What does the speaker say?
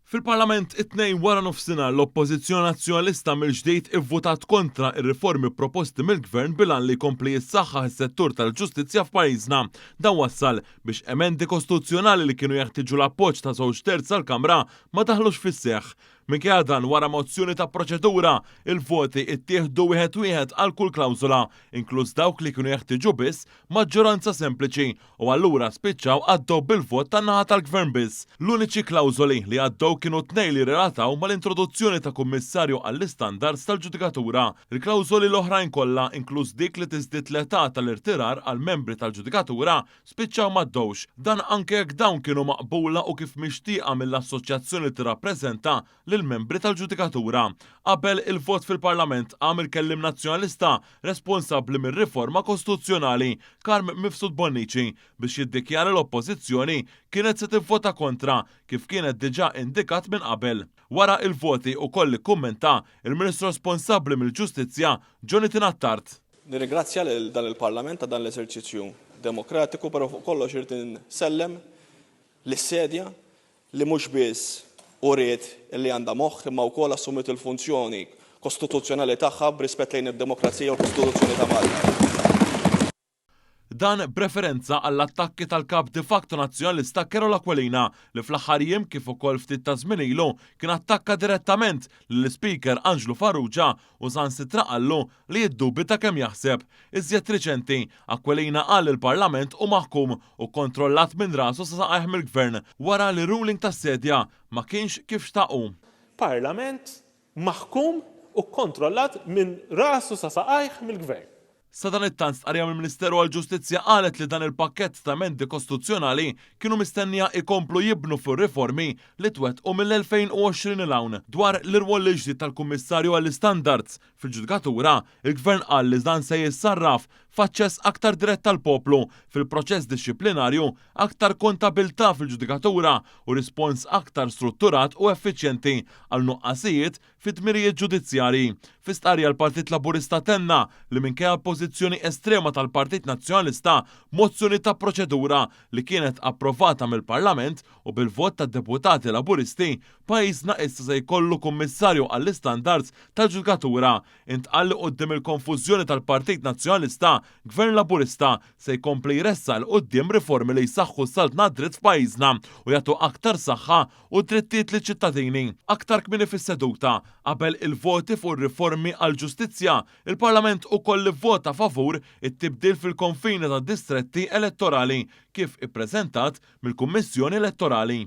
Fil-Parlament it-Tnejn waranofsinhar l-Oppożizzjoni Nazzjonalista mill-ġdid ivvutat kontra r-riformi proposti mill-Gvern bil-għan li jkompli jissaħħaħ is-settur tal-ġustizzja f'pajjiżna. Dan wassal biex emendi kostituzzjonali li kienu jeħtieġu l-appoġġ ta' żewġ terz tal-Kamra ma daħlux fis-seħħ. Minkejja dan wara mozzjoni ta' proċedura, il-voti ttieħdu wieħed wieħed għal kull klawżola, inkluż dawk li kienu jeħtieġu biss maġġoranza sempliċi. U allura spiċċaw għaddew bil-vot tan-naħa tal-Gvern biss. L-uniċi klawżoli li għaddew kienu tnej li rrelataw mal-introduzzjoni ta' kummissarju għall-istandards tal-ġudikatura. Il-klawżoli l-oħrajn kollha, inkluż dik li tiżdied l-età tal-irtirar għall-membri tal-ġudikatura, spiċċaw m'għaddewx. Dan anke jekk dawn kienu maqbula u kif mixtieqa mill-assoċjazzjoni li tirrappreżenta lill-membri tal-ġudikatura. Qabel il-vot fil-Parlament qam il-Kelliem Nazzjonalista responsabbli mir-riforma kostituzzjonali, Carm Mifsud Bonnici, biex jiddikjara l-Oppożizzjoni kienet se tivvota kontra kif kienet diġà indikat minn qabel. Wara il-voti ukoll ikkummenta il-Ministru responsabbli mill-Ġustizzja, Jonathan Attard. Nirringrazzja lil dan il-Parlament ta' dan l-eżerċizzju demokratiku però fuq kollox irrid insellem lis-sedja li mhux biss uriet li għandha moħħ imma wkoll assumiet il-funzjoni kostituzzjonali tagħha b'rispett lejn id-demokrazija u l-Kostituzzjoni ta' Malta. Dan b'referenza għall-attakki tal-Kap de facto Nazzjonalista Carol Aquilina li fl-aħħar jiem kif ukoll ftit ta' żmien ilu kien attakka direttament lill-Ispeaker Anġlu Farrugia u saħansitra qallu li jiddubita kemm jaħseb. Iżjed riċenti, Aquilina qal li l-Parlament hu maħkum u kontrollat minn rasu sa saqajh mill-Gvern wara li r-ruling tas-Sedja ma kienx kif xtaq hu. Parlament maħkum u kkontrollat minn rasu sa saqajh mill-Gvern. Sadanittant stqarrija mill-Ministeru għall-Ġustizzja qalet li dan il-pakkett ta' emendi kostituzzjonali kienu mistennija jkomplu jibnu fuq ir-riformi li twettqu mill-2020 'il hawn dwar l-irwol il-ġdid tal-Kummissarju għall-Istandards, Fil-ġudikatura, il-Gvern qal li dan se jissarraf f'aċċess aktar dirett tal-poplu fil-proċess dixxiplinarju, aktar kontabilità fil-ġudikatura u rispons aktar strutturat u effiċjenti għal nuqqasijiet fid-dmirijiet ġudizzjarji. Fi stqarrija l-Partit Laburista tenna li minkejja l-pożizzjoni estrema tal-Partit Nazzjonalista b'mozzjoni ta' proċedura li kienet approvata mill-Parlament u bil-vot tad-deputati Laburisti Pajjiżna issa se jkollu Kummissarju għall-Istandards tal-Ġudikatura. Intqal li quddiem il-konfużjoni tal-Partit Nazzjonalista, Gvern Laburista se jkompli jressaq 'il quddiem riformi li jsaħħu s-saltna għad-dritt f'pajjiżna u jagħtu aktar saħħa u drittijiet liċ-ċittadini. Aktar kmieni fis-seduta, qabel il-voti fuq ir-riformi għall-ġustizzja, il-Parlament ukoll ivvota favur it-tibdil fil-konfini tad-distretti elettorali kif ippreżentat mill-Kummissjoni Elettorali.